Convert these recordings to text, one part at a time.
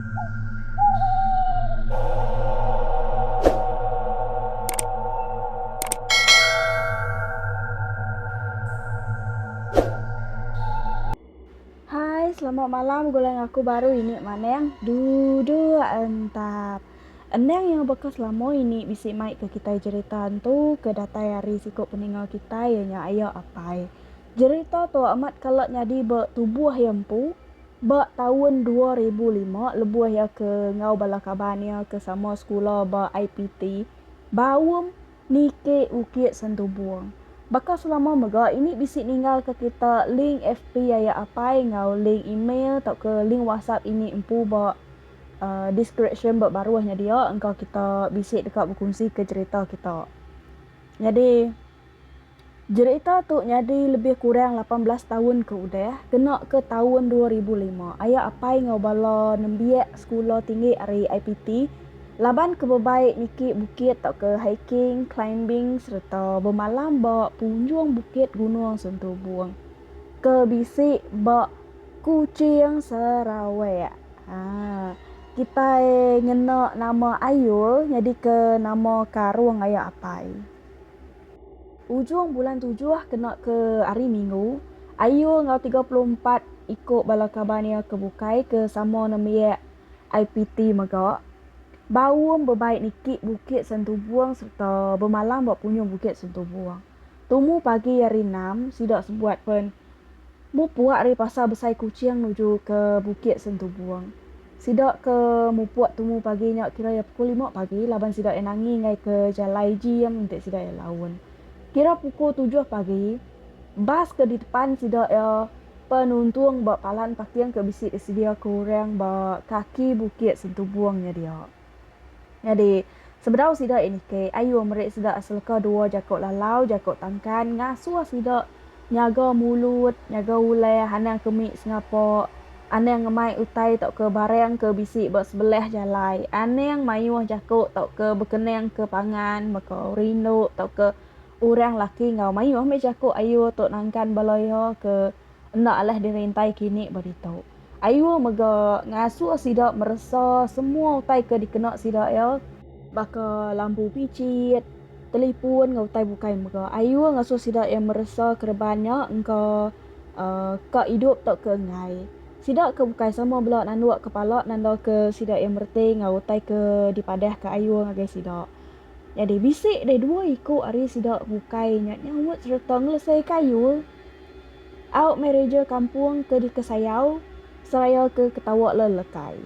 Hai selamat malam gulai ngaku baru ini maneng duduk entap endang iya baka selama ini bisi mai ke kitai jerita entu ke datai ari siku peninga kitai iya nya aya apai jerita tu amat kala nyadi ba tubuh iya empu. Ba taun dua ribu lima, lebuh iya ke enggau bala kaban iya ke sama sekula ba IPT, Baum niki Bukit Sentubong. Baka selama mega, ini bisi ninggalka kita link FB aya apai enggau link email tauka link WhatsApp ini empu ba deskripsyen ba baruh nya dia engka kita bisi deka bekunsika cherita kita. Nyadi. Jerita tu nyadi lebih kurang lapan belas taun ke udah, kena ke taun dua ribu lima, aya apai enggau bala nembiak sekula tinggi ari IPT laban ke bebai niki bukit tauka hiking, climbing sereta bemalam ba punjung bukit Gunung Sentubong ke bisi ba Kuching, Sarawak. Haa, kitai ngena nama Ayul nyadika nama karung aya apai. Ujung bulan tujuh kena ke Hari Minggu, Ayu enggau tiga puluh empat iku bala kaban iya ke bukai ke sama nembiak IPT mega baum bebai niki Bukit Sentubong sereta bemalam ba punyung Bukit Sentubong. Tumu pagi Hari Enam, sida sebuat pen mupuk ari Pasar Besai Kuching nuju ke Bukit Sentubong. Sida ke mupuk tumu pagi nya kira iya pukul lima pagi laban sida iya nangi enggai ke jalai ji iya menti sida iya laun. Kira pukul tujuh pagi, bas ke ditepan sida iya penuntung ba palan paking ke bisi disedia ke orang ba kaki Bukit Sentubong nya dia. Nyadi, sebedau sida niki, ayu meri sida seleka dua jaku lalau, jaku tangkan, ngasuh sida nyaga mulut, nyaga ulah anang ke mit sengapa, anang ngemai utai tauka barang ke bisi ba sebelah jalai, anang mayuh jaku tauka bekenangka pangan mega rindu tauka orang laki enggau mayuh meh jaku ayu tu nangkan bala iya ke. Enda alah dirintai kini ba ditu. Ayuh mega ngasuh sida meresa semua utai ke dikena sida iya, baka lampu pichit, telipun enggau utai bukai mega ayuh ngasuh sida iya meresa kereban nya engka ka idup tauka enggai. Sida ke bukai sama bela nanduk kepala nandaka sida iya mereti enggau utai ke dipadahka ayuh ngagai sida. Nyadi bisi deh dua iku ari sida bukai nya nyaut sereta ngelesaika ayuh. Au mereja kampung ke dikesayau seraya ke ketawa le lekai.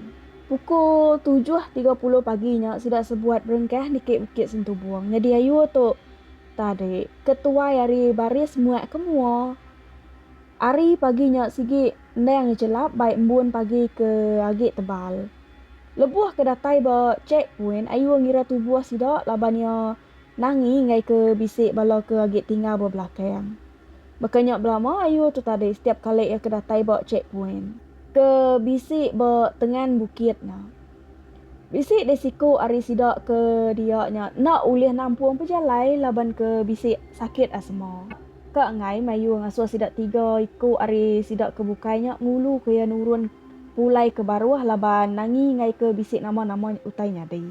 Pukul tujuh tiga puluh pagi nya sida sebuat berengkah niki Bukit Sentubong nyadi ayu tu tadi ke tuai ari baris muak ke mua. Ari pagi nya sigi endang jelap bai embun pagi ke agi tebal. Lebuh ke datai ba check point ayu ngira tubuh sida laban iya Nangi enggai ke bisi bala ke agi tinggal ba belakang. Baka nya belama ayu tu tadi setiap kali iya ke datai ba checkpoint ke bisi ba tengan bukit nya. Bisi deh siku ari sida ke dia nya enda ulih nampung pejalai laban ke bisi sakit asma. Ka enggai mayuh ngasuh sida tiga iku ari sida ke bukai nya ngulu ke iya nurun pulai ke baruh laban Nangi enggai ke bisi nama-nama utai nyadi.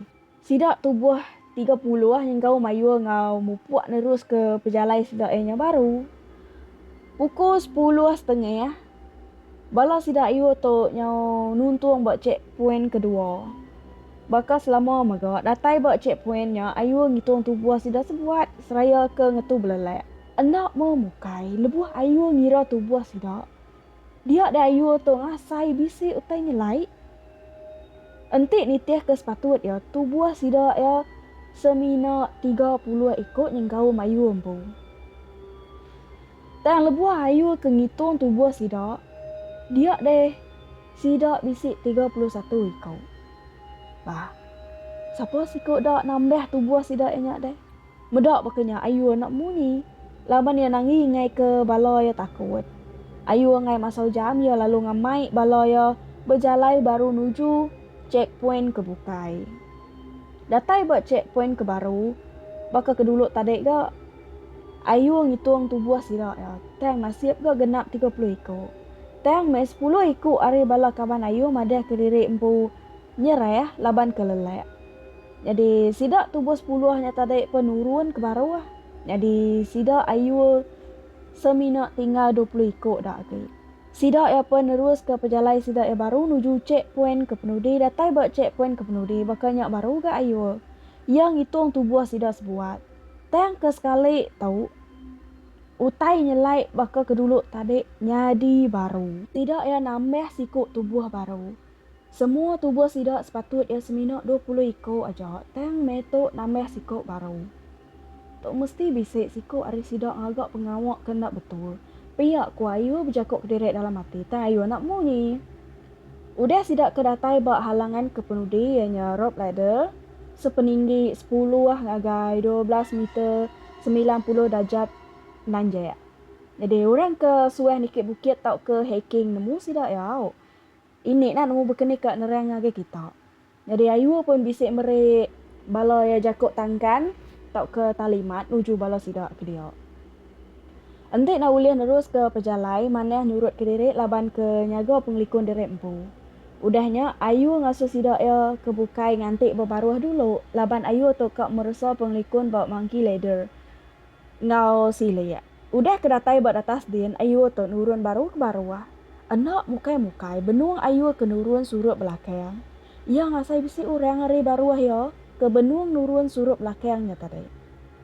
Sida tubuh tiga puluh enggau mayuh enggau mupuk neruska pejalai sida iya nya baru. Pukul sepuluh setengah, bala sida mayuh tu nyau nuntung ba checkpoint kedua. Baka selama mega, datai ba checkpoint nya ayu ngitung tubuh sida sebuat seraya ke ngetu belelak. Enda meh mukai, lebuh ayu ngira tubuh sida, Dia deh ayu tu ngasai bisi utai nyelai. Enti nitihka sepatut iya, tubuh sida iya semina tiga puluh iku nyenggau mayuh empu. Tang lebuh ayu ke ngitung tubuh sida, dia deh sida bisi tiga puluh satu iku. Bah, sapa siku da nambah tubuh sida iya nya deh? Meda baka nya Ayu anak munyi. Laban iya nanggi ngaika bala iya takut. Ayu enggai masau jam iya lalu ngamai bala iya bejalai baru nuju checkpoint ke bukai. Datai ba checkpoint ke baru, baka ke dulu tadi ga, Ayu ngitung tubuh sida iya tang nasib ga genap tiga puluh iku. Tang meh sepuluh iku ari bala kaban Ayu madah ke riri empu Nyerah laban kelelak. Nyadi sida tubuh sepuluh nya tadi pun nurun ke baruh. Nyadi sida ayu semina tinggal dua puluh iku da agi. Sida iya pun neruska pejalai sida iya baru nuju chek poin ke penudi datai ba chek poin ke penudi baka nya baru ga ayu. Iya ngitung tubuh sida sebuat. Tang ke sekali tu utai nyelai baka ke dulu tadi nyadi baru. Sida iya nambah siku tubuh baru. Semua tubuh sida sepatut iya semina dua puluh iku aja tang meh tu nambah siku baru. Tu mesti bisi siku ari sida ngaga pengawa ke enda betul. Pia ku Ayu bejaku kediri dalam ati tang Ayu enda munyi. Udah sida ke datai ba halangan ke penudi iya nya rope ladder sepeninggi sepuluh ngagai dua belas meter semilan puluh darjat nanjak. Nyadi orang ke suah niki bukit tauka hiking nemu sida iya au. Ini nah nemu bekeni ka nerang ngagai kita. Nyadi ayu pun bisi meri bala iya jaku tangkan tauka talimat nuju bala sida ke dia. Enti nah ulih neruska pejalai manah nyurut ke diri laban ke nyaga pengelikun diri empu. Udah nya ayu ngasuh sida iya ke bukai nganti bebaruh dulu laban ayu tu ka meresa pengelikun ba monkey ladder enggau silik. Udah ke datai ba datas din ayur tu nurun baru ke baru. Enda mukai-mukai benung ayur ke nurun surup belakang. Iya ngasai bisi orang ari baruh iya ke benung nurun surup belakang nya tadi.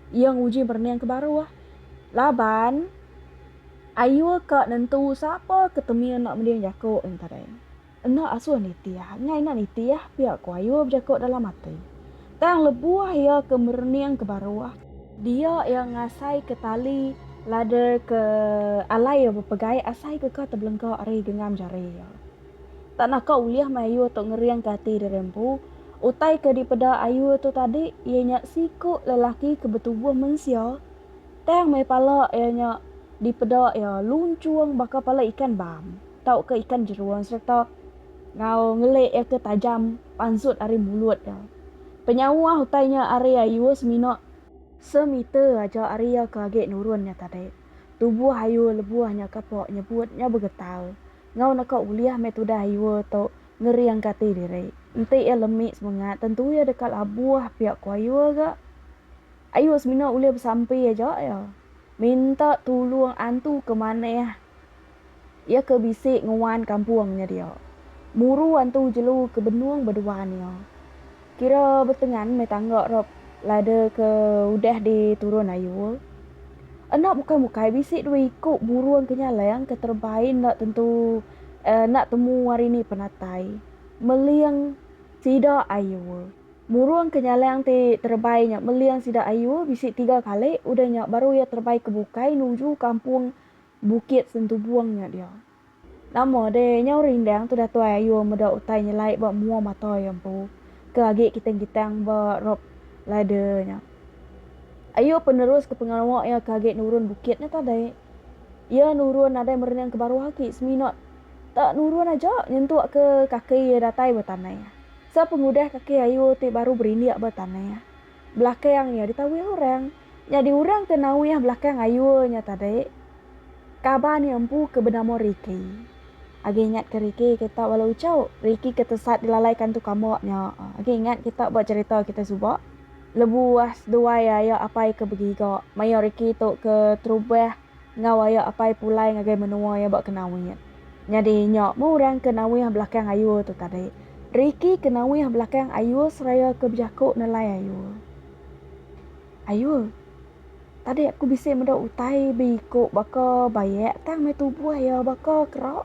Iya nguji merening ke baruh laban ayur ka nentu sapa ke temi enda mending jaku nya tadi. Enda asuh nitih ngai enda nitih pia ku Ayuh bejaku dalam ati. Tang lebuh iya ke merening ke baruh. Dia iya ngasai ke tali ladar ke alai iya bepegai asai ke ka tebelengka ari genggam jari iya. Tak naka ulih meh Ayuh tu ngering ke ati diri empu. Utai ke dipeda Ayuh tu tadi iya nya siku lelaki ke betubuh mensia tang meh pala iya nya dipeda iya lunchung baka pala ikan bam. tauka ikan jerung sereta enggau ngelik iya ke tajam pansut ari mulut iya. Penyawa utai nya ari Ayu semina semeter aja ari iya ke agi nurun nya tadi. Tubuh Ayu lebuh nya kapa nyebut nya begetar enggau naka ulih meh tudah Ayu tu ngeringka ati diri. Enti iya lemi semengat tentu iya deka labuh pia ku Ayu ga. Ayu semina ulih besampi aja iya minta tulung antu ke manah Iya ke bisi nguan kampung nya dia. Muru antu jelu ke benung beduan iya. Kira betengan meh tangga rop lada ke udah di turun ayul. Enda bukai bukai bisi dua iku burung ke nyalang ke terebai enda tentu enda temu hari ni penatai. Meling sida ayul. Burung ke nyalang ti terebai nya meling sida ayul bisi tiga kali udah nya baru iya terebai ke bukai nuju kampung Bukit Sentubong nya dia. Nama deh nyau rindang tu Datai Ayung meda utai nyelai ba mua mata iya empu ke agi kitang-kitang ba rope ladder nya. Ayung peneruska pengawa iya ke agi nurun bukit nya tadi. Iya nurun nadai merenung ke baruh agi semina tak nurun aja nyentukka kaki iya datai ba tanah. Sepengudah kaki Ayung ti baru berindik ba tanah. Belakang iya ditawih orang. Nyadi orang ke nawih belakang Ayul nya tadi kaban iya empu ke benama Ricky. Agi ingat ke Ricky kita bala uchu. Ricky ke tesat dilalai kantu kambak nya. Agi ingat kita ba cherita kita suba. Lebuh seduai aya apai ke begiga maya Ricky tu ke terubah. Enggau ayo apai pulai ngagai menua iya ba Kenawit. Nyadi nya meh orang ke nawih belakang ayul tu tadi. Ricky ke nawih belakang ayul seraya ke bejaku nelai ayul. Ayul, tadi aku bisi meda utai be iku baka bayak tang meh tubuh iya baka kera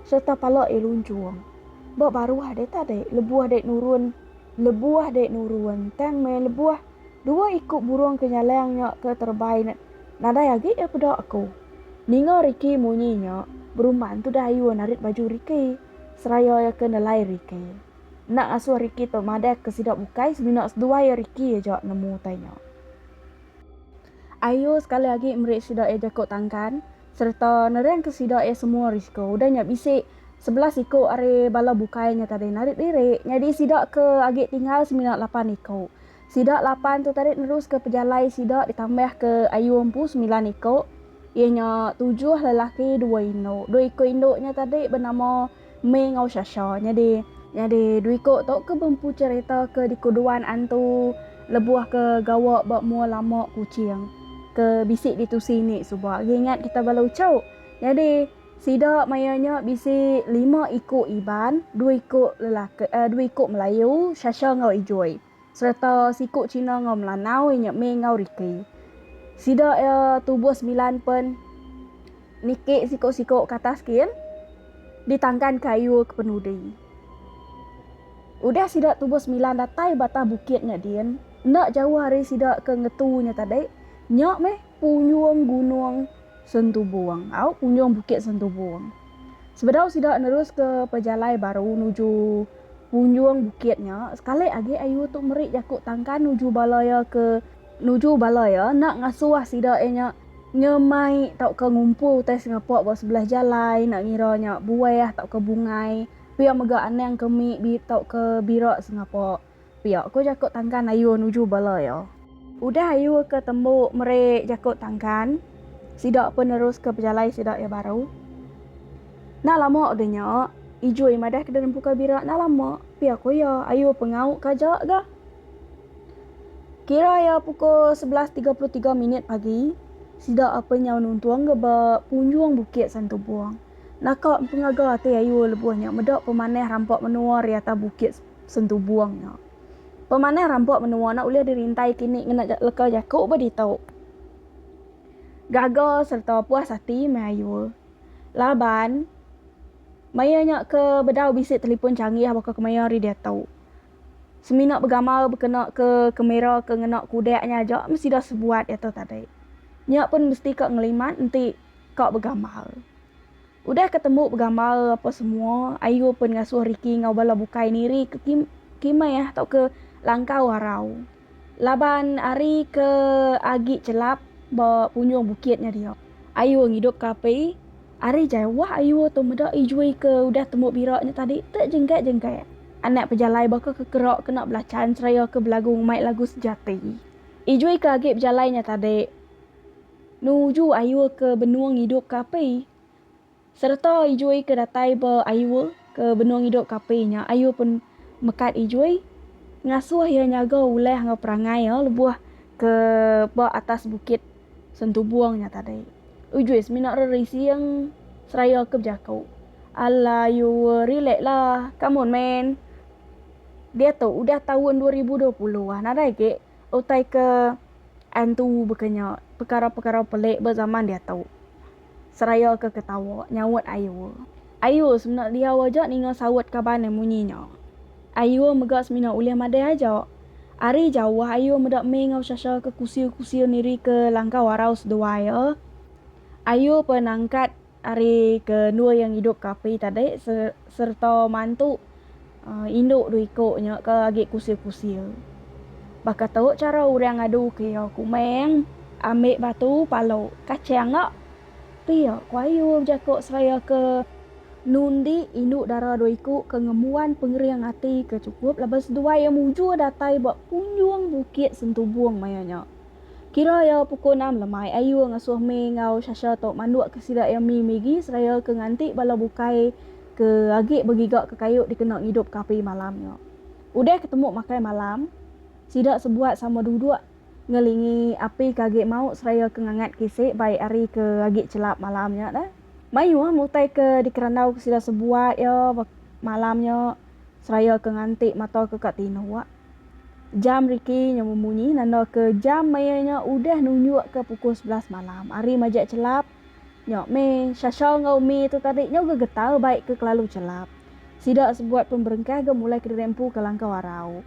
sereta pala iya lunchung. Ba baruh deh tadi lebuh deh nurun lebuh deh nurun tang meh lebuh. Dua iku burung ke nyalang nya ke terebai nadai agi iya peda aku. Ninga Ricky munyi nya, berumban tu Dayun narit baju Ricky seraya iya ke nelai Ricky. Enda ngasuh Ricky tu madah ke sida bukai semina seduai iya Ricky aja nemu utai nya. Ayu sekali agi meri sida iya jaku tangkan sereta nerangka sida iya semua risiko. Udah nya bisi sebelas iku ari bala bukai nya tadi narit diri nyadi sida ke agi tinggal semina lapan iku. Sida lapan tu tadi neruska pejalai sida ditambah ke ayu empu semilan iku iya nya tujuh lelaki dua indu. Dua iku indu nya tadi benama May enggau Shasha. Nyadi. Nyadi dua iku tu ke bempu cherita ke dikuduan antu lebuh ke gawa ba mua lama Kuching ke bisi ditusi ni suba agi ingat kita bala uchu. Nyadi. Sida maya nya bisi lima iku Iban, dua iku lelaki dua iku Melayu, Shasha enggau Ijoi, sereta siku China enggau Melanau inya May enggau Ricky. Sida iya tubuh semilan pen niki siku-siku ke atas kin ditangkan kayu ke penudi. Udah sida tubuh semilan datai ba atas bukit nya din, enda jauh ari sida ke ngetu nya tadi, nya meh Punjung Gunung Sentubong au Punjung Bukit Sentubong. Sebedau sida neruska pejalai baru nuju punjung bukit nya, sekali agi ayu tu meri jaku tangkan nuju bala iya ke nuju bala iya enda ngasuh sida iya nya nyemai tauka ngumpul utai sengapa ba sebelah jalai enda ngira nya buah tauka bungai pia mega anang kemi bi tauka bira sengapa. Pia ko jako tangkan Ayuh nuju bala iya. Udah Ayuh ke tembu meri jako tangkan, sida pun nerus ke pejalai sida iya baru. Enda lama ga nya, Ijui madah ke denempu ka bira enda lama, pia ko iya. Ayuh pengau ka aja ga. Kira iya pukul sebelas tiga puluh tiga minit pagi, sida ape nyau nuntung ga ba punjung bukit Santubong. Naka empengaga ati Ayuh lebuh nya meda pemanah rampa menua riata bukit. Sentubung nya. Pemanah rampok menua nya ulih dirintai kini ngena leka jaku ba ditu. Gaga sereta puas ati meh ayu. Laban, maya nya ke bedau bisi telipon changgih baka kemaya ari diatu. Semina begamal bekena ke kamera ke ngena kudak nya aja meh sida sebuat diatu tadi. Nya pun mesti ka ngelimat enti ka begamal. Udah ke tembu begamal apa semua, Ayu pen ngasuh Ricky enggau bala bukai niri ke kim kimeh tauka langkau arau. Laban ari ke agi chelap ba punjung bukit nya dia. Ayu ngidup ke api. Ari jai wah Ayu tu meda Ijui ke udah tembu bira nya tadi te jenggat-jenggat. Anak pejalai baka ke kera kena belachan seraya ke belagu ngumai lagu sejati. Ijui ke agi bejalai nya tadi. Nuju Iowa ke Benua Ngidup ke api. Sereta Ijui ke datai ba Iowa ke Benua Ngidup ke api nya, Iowa pun mekat Ijui, ngasuh iya nyaga ulah enggau perangai iya lebuh ke ba atas Bukit Sentubong nya tadi. Ijui semina rerising seraya ke bejaku, Alah Iowa, relaxlah. Come on man. Diatu udah taun dua ribu dua puluh ah, nadai agi. utai ke antu baka nya pekara-pekara pelik ba zaman diatu seraya ke ketawa nyaut Ayur. Ayur semina diau aja ninga saut kaban iya munyi nya. Ayur mega semina ulih madai aja. Ari jauh Ayur meda mih enggau Shasha ke kusir-kusir nirika langkau arau seduai iya. Ayur pernah angkat. Ari ke endua iya ngidup ke api tadi sereta mantu indu dua iko nya ke agi kusil-kusil. Baka tu chara urang ngadu ke iya, Kumang, ambi batu palu kachang nya. Pia ku Ayum jako seraya ke nundi indu dara dua iko ke ngembuan pengering ati ke chukup laban seduai iya mujur datai ba punjung bukit Sentubong maya nya. Kira iya pukul enam lemai ayu ngasuh May enggau Sasha tu manduk ke sida iya May migi seraya ke nganti bala bukai ke agi begiga ke kayu dikena ngidup ke api malam nya. Udah ke temu makai malam, sida sebuat sama duduk ngelingi api ke agi mauk seraya ke ngangat kisi bai hari ke agi chelap malam nya dah. Mayuh utai ke dikerandau ke sida sebuat iya ba malam nya seraya ke nganti mata ke ka tinduk. Jam riki nya memunyi nandaka jam maya nya udah nunjukka pukul sebelas malam. Ari majak chelap nya meh, Shasha enggau Mee tu tadi nya uga getau bai ke kelalu chelap. Sida sebuat pun berengkah ga mulai ke dirempu ke langkau arau.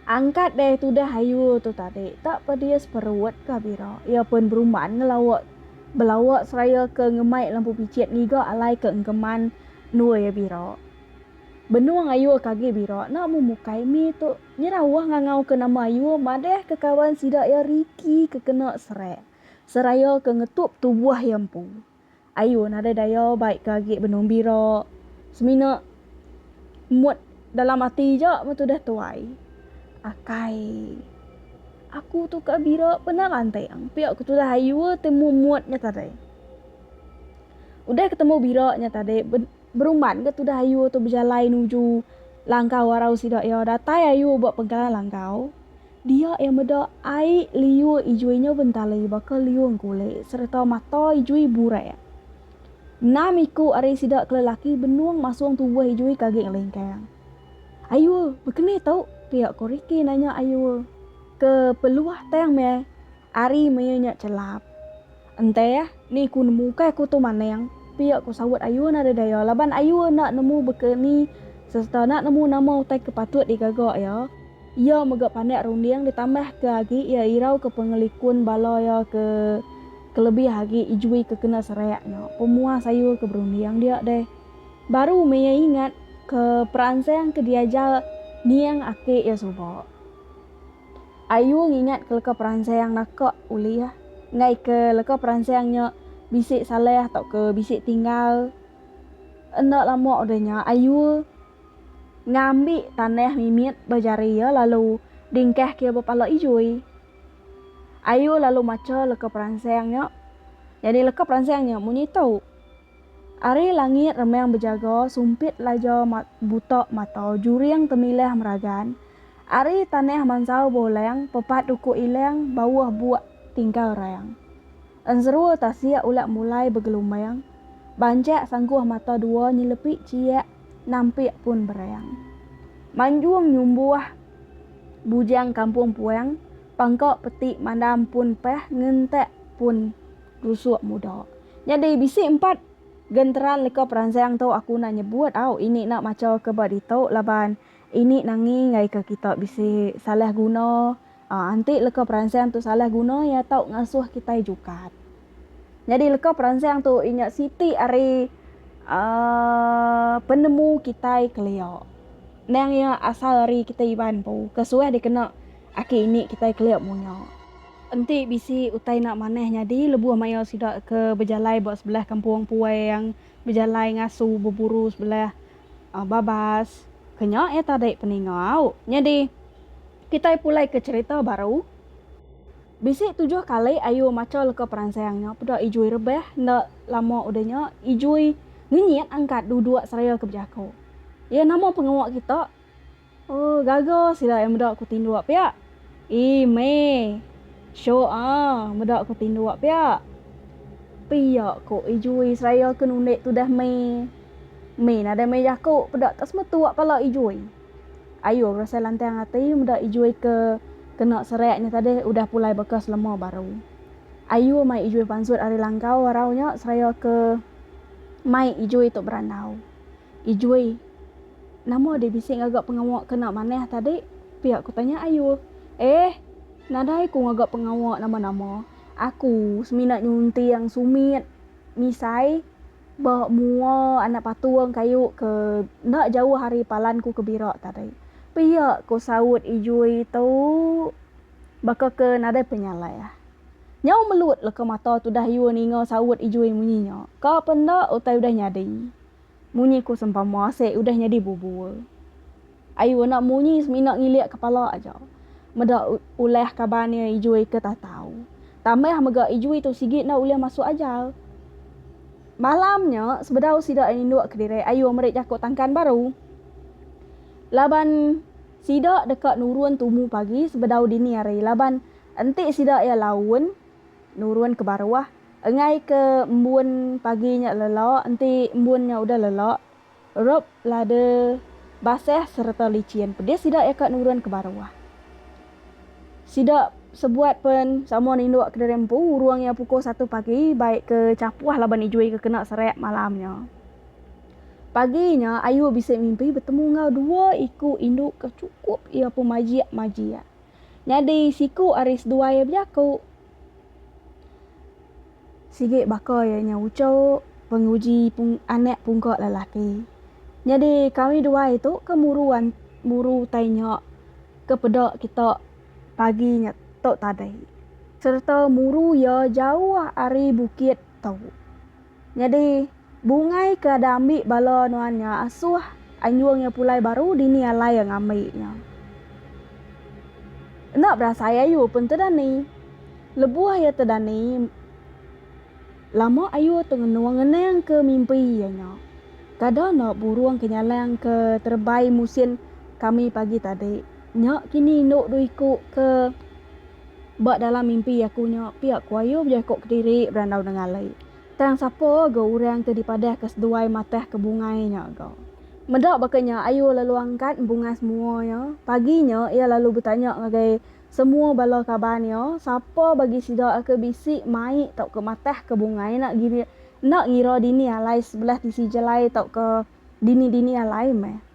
Angkat deh tudah ayu tu tadi, tak pedis perut ka bira. Iya pun berumban ngelawa belawa seraya ke ngemai lampu pichit ngiga alai ke engkeman endur iya bira. Benung Ayur ke agi bira enda mu mukai mie tu nyerau wah ngangau ke nama Ayur madah ke kawan sida iya Ricky ke kena serak seraya ke ngetup tubuh iya empu. Ayur nadai daya bai ke agi benung bira semina mut dalam ati ja meh tudah tuai. Akai aku tu ka bira pena lanting pia ke tudah Ayur temu mut nya tadi. Udah ketemu bira nya tadi. Berumban ga tudah ayu tu bejalai nuju langkau arau sida iya. Datai ayu ba pengkalan langkau, dia iya meda ai liur ijui nyau bentali baka liur engkulit sereta mata ijui burai. Enam iku ari sida ke lelaki benung masung tubuh ijui ke agi ngelingkang. Ayu, bekenih tu? pia ko Ricky nanya ayu ke peluah tang meh Ari mea nya chelap. Ente ah, ni ku nemu ukai aku tu maneng, pia ku saut Ayu nadai daya laban Ayu enda nemu beka ni sereta enda nemu nama utai ke patut digaga iya. Iya mega pandak runding ditambah ke agi iya irau ke pengelikun bala iya ke kelebih agi ijui ke kena serak nya pemuas Ayu ke berunding dia deh. Baru mea ingat ke peransang ke diajar niang aki iya suba. Ayu ngingat ke leka peransang naka ulih enggai ke leka peransang nya bisi salah tauka bisi tinggal. Enda lama udah nya Ayu ngambi tanah mimit ba jari iya lalu dingkahka iya ba pala Ijui. Ayu lalu macha leka peransang nya. Nyadi leka peransang nya munyi tu. Ari langit remang bejaga sumpit laja buta mata juring temilah meragan Ari tanah mansau beulang pepat duku ilang bauh buak tingkal rang Enserua tasik ulak mulai begelumbang Banchak sangkuh mata dua nyelepi chiak nampik pun berang Manjung nyumbuh bujang kampung puang Pangka peti mandam pun pah ngentak pun Rusuk muda. Nyadi bisi empat genteran leka peransang tu aku enda nyebut au ini enda macha ke ba ditu laban ini nangi ngagai ke kita bisi salah guna aaa enti leka peransang tu salah guna iya tau ngasuh kitai jukat. Nyadi leka peransang tu inya siti ari aaa penemu kitai kelia. Nang iya asal ari kitai Iban empu ke suah dikena aki ini kitai kelia munyak. Enti bisi utai enda manah nyadi lebuh maya sida ke bejalai ba sebelah kampung puang bejalai ngasu beburu sebelah babas ke nya iya tadi peningau. Nyadi kitai pulai ke cherita baru. Bisi tujuh kali ayu macha leka peransang nya peda Ijui rebah enda lama udah nya Ijui ngenyit angkat dua-dua seraya ke bejaku. Iya nama pengawa kita Ooh gaga sida iya meda ku tinduk pia. Ii meh. Syok ah meda ku tinduk pia. Pia ko ii jui seraya ke nundik tudah meh. Meh nadai meh jaku peda ka sema tua pala ii jui. Ayo berasai lantang ati meda ii jui ke kena serak nya tadi udah pulai baka selema baru. Ayo mai ii jui pansut ari langkau arau nya seraya ke mai ii jui tu berandau. Ii jui. Nama deh bisi ngaga pengawa kena manah tadi? pia ku tanya Ayul. Eh, nadai ku ngaga pengawa nama-nama. Aku semina nyunting sumit misai ba mua anak patung kayu ke enda jauh ari palan ku ke bira tadi, pia ku saut Ijui tu baka ke nadai penyalah. Nyau melut leka mata tudah Ayul ninga saut Ijui munyi nya. Ka pe enda utai udah nyadi. Munyi ku sempama asek udah nyadi bubur. Ayu anak munyi semina ngilik kepala aja. Meda ulah kaban iya Ijui ke tatau. Tambah mega Ijui tu sigi enda ulih masuk ajar. Malam nya sebedau sida indu kediri Ayu meri jaku tangkan baru. Laban sida deka nurun tumu pagi sebedau dini hari laban enti sida iya laun nurun ke baruh Enggai ke embun pagi nya lelo enti embun nya udah lelo rob lada basah sereta lichin pedis sida iya ka nurun ke baruh. Sida sebuat pen sama nindu kediri empu urung iya pukul satu pagi bai ke chapuh laban ijui ke kena serak malam nya. Pagi nya ayu bisi mimpi betemu enggau dua iku indu ke chukup iya pemajik-majik. Nyadi siku ari seduai iya bejaku. Sigi baka iya nya ucuk penguji anak pungka lelaki. Nyadi kami dua itu ke muru muru utai nya ke peda kita pagi nya tu tadi serta muru iya jauh ari bukit tu. Nyadi, Bungai ke ada ambi bala nuan nya asuh anjung iya pulai baru dini alai iya ngambi nya. Enda berasai ayu pun tedani. Lebuh iya tedani, lama ayu tu ngenung ngenang ke mimpi iya nya. Kada enda burung ke nyalang ke terebai musin kami pagi tadi. Nya kini indu dua iku ke ba dalam mimpi aku nya pia ku ayu bejaku kediri berandau nengali. Tang sapa ga orang ke dipadahka seduai matah ke bungai nya ga. Meda baka nya ayu lalu angkat embungas mua iya. Pagi nya iya lalu betanya ngagai semua bala kaban iya sapa bagi sida ke bisi mai tauka matah ke bungai enda gira enda ngira dini alai sebelah tisi jalai tauka dini-dini alai meh.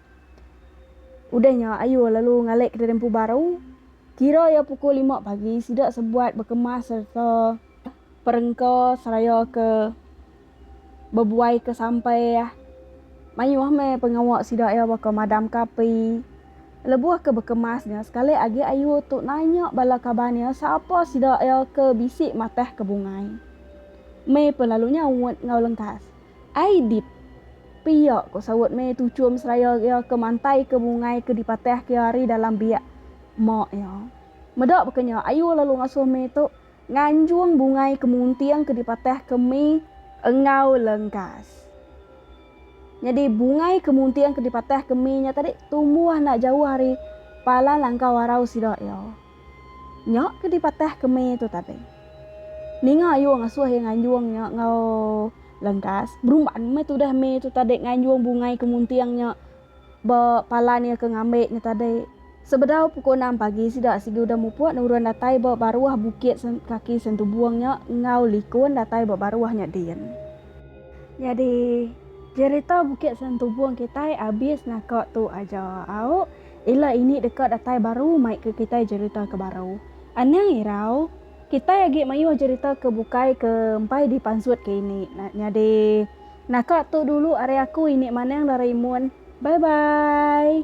Udah nya Ayu lalu ngalai kediri empu baru. Kira iya pukul lima pagi sida sebuat bekemas sereta perengka seraya ke bebuaika sampah. Mayuh meh pengawa sida iya baka madamka api. Lebuh ke bekemas nya sekali agi Ayu tu nanya bala kaban iya sapa sida iya ke bisi matahka bungai. Mei pelalu nyaut enggau lengkas. Ai dit. Pia, ko saut meh tuchum seraya iya ke mantai ke mungai ke dipatah ke ari dalam biak mak iya. Meda baka nya ayu lalu ngasuh meh tu nganjung bungai ke munting ke dipatah ke meh enggau lengkas. Nyadi bungai ke munting ke dipatah ke meh nya tadi tumbuh enda jauh ari palan langkau arau sida iya. Nya ke dipatah kemi tu tadi. Ninga ayu ngasuh iya nganjung nya enggau lengkas. Berumban meh tudah me tu tadi nganjung bungai ke munting nya ba palan iya ke ngambi nya tadi. Sebedau pukul enam pagi sida sigi udah mupuk nurun datai ba baruh bukit kaki Sentubong nya enggau likun datai ba baruh nya din. Nyadi jerita Bukit Sentubong kitai abis naka tu aja au. Ila ini deka datai baru mai ke kitai jerita ke baru. Anang irau, kitai agi mayuh jerita ke bukai ke empai di pansut ke ini. Nyadi naka tu dulu ari aku ini manang Doraemon. Bye bye.